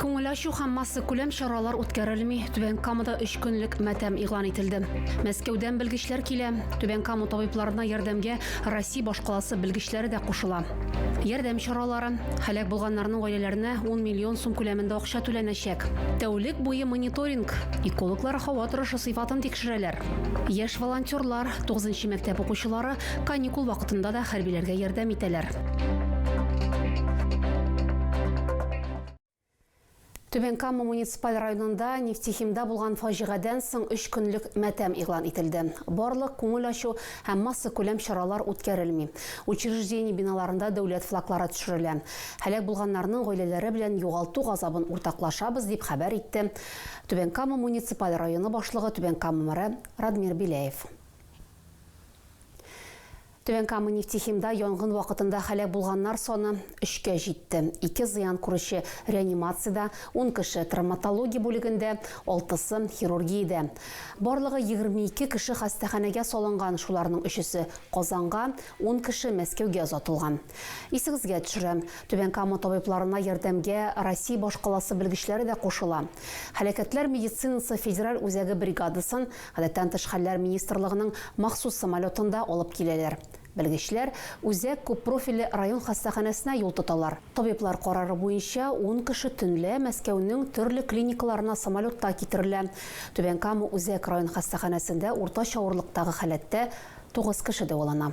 Күңел ачу һәм массакүләм чаралар үткәрелми, Түбән Камада өч көнлек матәм игълан ителде. Мәскәүдән белгечләр килә, Түбән Кама табибларына ярдәмгә Россия башкаласы белгечләре дә кушыла. Ярдәм чаралары, һәлак булганнарның гаиләләренә 10 миллион сум күләмендә акча түләнәчәк. Тәүлек буе мониторинг, экологлар һава торышы сыйфатын тикшерәләр. Яшь волонтерлар, 9 нчы мәктәп укучылары Каникул вакытында да хәрбиләргә ярдәм итәләр. Түбән Кама муниципаль районында нефтехимда булган фаҗигадән соң 3 көнлек мәтәм игълан ителде. Барлык күңел ачу һәм масса күләм чаралар үткәрелми. Учреждение биналарында дәүләт флаглары төшерелә. Һәлак булганнарның гаиләләре белән югалту газабын уртаклашабыз, дип хәбәр итте Түбән Кама муниципаль районы башлыгы Түбән Кама мэры Радмир Беляев. Түбән Кама нефтехимда янгын вакытында һәлак булганнар саны өчкә җитте. Ике зыян күрүче реанимациядә, ун кеше травматология бүлегендә, алтысы, хирургиядә. Барлыгы егерме ике кеше хастаханәгә салынган, шуларның өчесе, Казанга, ун кеше Мәскәүгә озатылган. Исегезгә төшерәм, Түбән Кама табибларына ярдәмгә Россия башкаласы белгечләре дә кушыла. Һәлакәтләр медицинасы федераль үзәге бригадасын Гадәттән тыш хәлләр министрлыгының махсус самолетында алып киләләр. Белгечләр Үзәк күппрофильле район хастаханәсенә юл тоталар. Табиблар карары буенча, ун кеше төнлә Мәскәүнең төрле клиникаларына самолетта китерелә. Түбән Кама Үзәк район хастаханәсендә уртача авырлыктагы халәттә тугыз кеше дәвалана.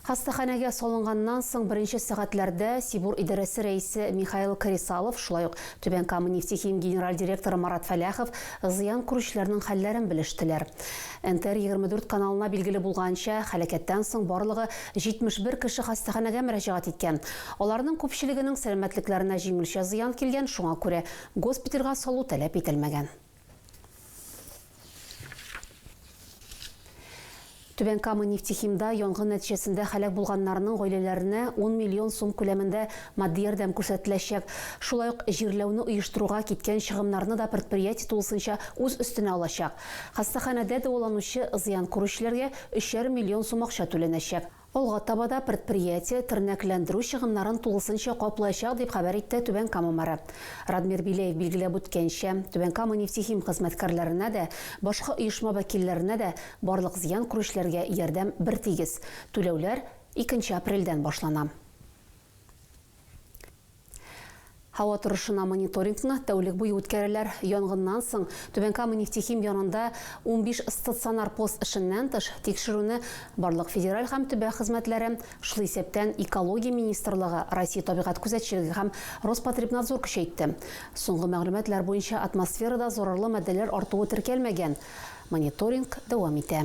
Хастаханәгә салынганнан соң беренче сәгатьләрдә Сибур идарәсе рәисе Михаил Кресалов, шулай ук Түбән Кама нефтехим генераль директоры Марат Фәләхов зыян күрүчеләрнең хәлләрен белештеләр. НТР-24 каналына билгеле булганча, һәлакәттән соң барлыгы 71 кеше хастаханәгә мөрәҗәгать иткән. Аларның күпчелегенең сәламәтлекләренә җиңелчә зыян килгән, шуңа күрә госпитальгә салу таләп ителмәгән. Түбән Кама нефтехимда янгын нәтиҗәсендә һәлак булганнарның гаиләләренә 10 миллион сум күләмендә матди ярдәм күрсәтеләчәк. Шулай ук җирләүне оештыруга киткән чыгымнарны да предприятие тулысынча үз өстенә алачак. Хастаханәдә дәваланучы зыян күрүчеләргә өчәр миллион сум акча түләнәчәк. Алга таба да предприятие тернәкләндерү чыгымнарын тулысынча каплаячак, дип хәбәр итте Түбән Кама мэры. Радмир Биләев билгеләп үткәнчә, Түбән Кама нефтехим хезмәткәрләренә дә, башка оешма вәкилләренә дә барлык зыян күрүчеләргә ярдәм бертигез, түләүләр икенче апрельдән башлана. Һава торышына мониторингны тәүлек буе үткәрәләр. Янгыннан соң Түбән Кама нефтехим янында унбиш стационар пост эшеннән тыш, тикшерүне барлык федераль һәм төбәк хезмәтләре, шул исәптән Экология министрлыгы, Россия табигать күзәтчелеге һәм Роспотребнадзор көчәйтте. Соңгы мәгълүматлар буенча атмосферада зарарлы матдәләр артуы теркәлмәгән. Мониторинг дәвам итә.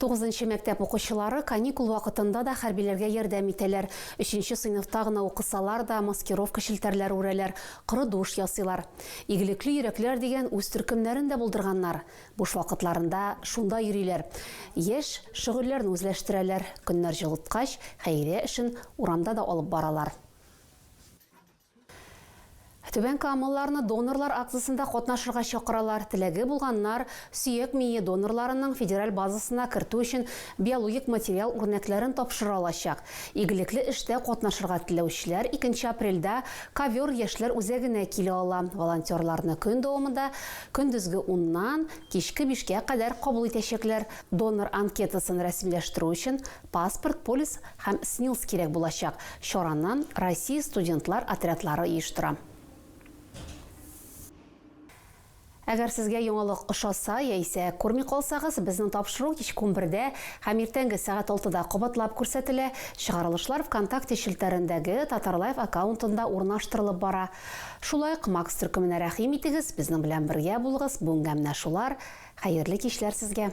Тугызынчы мәктәп укучылары каникул вакытында да хәрбиләргә ярдәм итәләр. Өченче сыйныфта гына укысалар да, маскировка челтәрләре үрәләр, коры душ ясыйлар. Игелекле йөрәкләр дигән үз төркемнәрен дә булдырганнар. Буш вакытларында шунда йөриләр. Яшь, шөгыльләрне үзләштерәләр. Көннәр җылыткач, хәйрия эшен урамда да алып баралар. Түбән камалыларны донорлар акциясендә катнашырга чакыралар. Теләге булганнар сөяк мие донорларының федераль базасына кертү өчен биологик материал үрнәкләрен тапшыра алачак. Игелекле эштә катнашырга теләүчеләр икенче апрельдә Ковер яшьләр үзәгенә килә ала. Волонтерларны көн дәвамында көндезге уннан кичке бишкә кадәр кабул итәчәкләр. Донор анкетасын рәсмиләштерү өчен Паспорт, полис һәм СНИЛС кирәк булачак. Чараны Россия студентлар отрядлары оештыра. Әгәр сезгә яңалык ошаса яисә күрми калсагыз, безнең тапшыру кичке унбердә һәм иртәнге сәгать алтыда кабатлап күрсәтелә, чыгарылышлар ВКонтакте челтәрендәге Татарлайв аккаунтында урнаштырылып бара. Шулай ук Макс төркеменә рәхим итегез, безнең белән бергә булыгыз, бүгенгә менә шулар, хәерле кичләр сезгә!